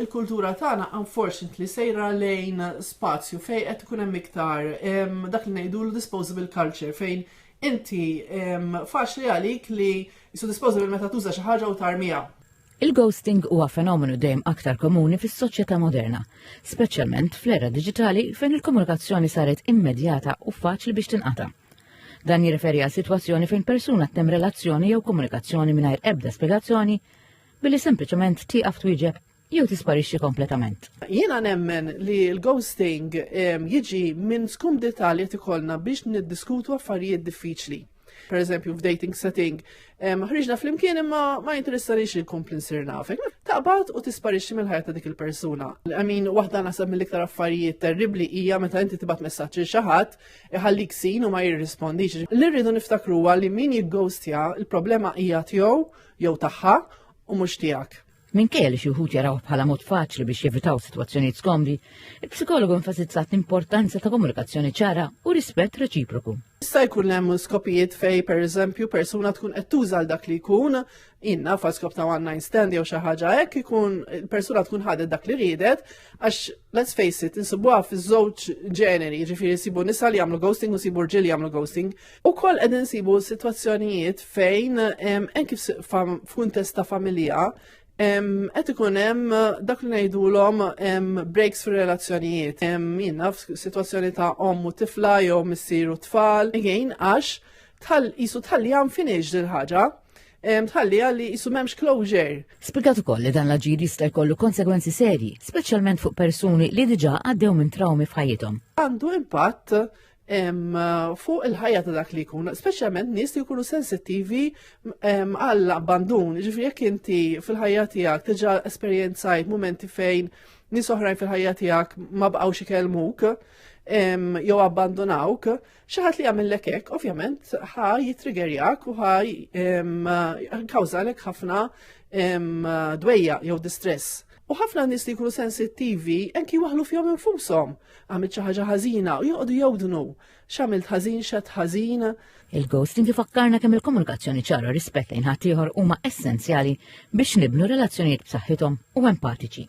Il-kultura tagħna unfortunately sejra lejn spazju fejn qed ikun hemm iktar dak li ngħidulu disposable culture fejn inti faċli għalik li so disposable meta tuża xi ħaġa u tarmiha. Il-ghosting huwa fenomenu dejjem aktar komuni fis-soċjetà moderna, speċjalment fl-era diġitali fejn il-komunikazzjoni saret immedjata u faċli biex tinqata'. Dan jirreferi għal sitwazzjoni fejn persuna ttem relazzjoni jew komunikazzjoni mingħajr ebda spjegazzjoni billi sempliċement tieqaf twieġeb jew tisparixxi kompletament. Jiena nemmen li l-ghosting ehm, jiġi minn skumdità li qed ikollna biex niddiskutu affarijiet diffiċli. Per eżempju, f'dating setting, ehm, ħriġna fl-imkien imma ma jinteressanix li nkompli nsir nafek. Taqbad u tisparixxi mill-ħajja ta' dik il-persuna. Għamin, waħda nasab mill-iktar affarijiet terribli hija meta inti tibgħat messaġġ il xi ħadd iħallik sin u ma jirrispondix. Li rridu niftakru li min jiggostja, il-problema hija tiegħu jew tagħha u mhux tiegħek. Minkejja li xi wħud jaraw bħala mod faċli biex jevitaw sitwazzjonijiet skomdi, il-psikologu enfasizzat l-importanza ta' komunikazzjoni ċara u rispett reċiproku. Issa jkun hemm skopijiet fej pereżempju persuna tkun qed tuża dak li jkun inna fa' skop ta' one night stand jew xi ħaġa hekk ikun persuna tkun ħadet dak li riedet għax let's face it insibuha fiż-żewġ ġeneri, jiġifieri sibu nisa li jagħmlu ghosting u sibu rġiel jagħmlu ghosting. U koll għed nsibu situazzjonijiet fejn, en kif f'kuntest ta' familja, għed ikun hemm dak li ngħidulhom breaks fir relazzjonijiet Minna f'sitwazzjoni ta' ommu tifla jew missiru tfal, again għax tal isu tal-li għam finix dil-ħaġa tħalli għalli jisu memx closure. Spiegat ukoll li dan l-aġir jista' jkollu konsegwenzi serji, speċjalment fuq persuni li diġà għaddew minn trawmi f'ħajjithom. Għandu impatt fuq il-ħajja ta' dak li jkun, speċjalment nies li jkunu sensittivi għall abbandun ġifri jekk inti fil-ħajja tiegħek tiġa esperjenzajt momenti fejn nies oħrajn fil-ħajja tiegħek ma bqgħux ikellmuk jew abbandunawk, xi ħadd li jagħmellek hekk ovvjament ħa jitrigerjak u ħa kawżalek ħafna dwejja jew distress. U ħafna nies li jkunu sensittivi anki waħlu fihom infushom għamilt xi ħaġa ħażina u joqogħdu jewdnu x'għamilt ħażin xed ħażin. Il-ghosting ifakkarna kemm il-komunikazzjoni ċara rispett lejn ħaddieħor huma essenzjali biex nibnu relazzjonijiet b'saħħithom u empatiċi.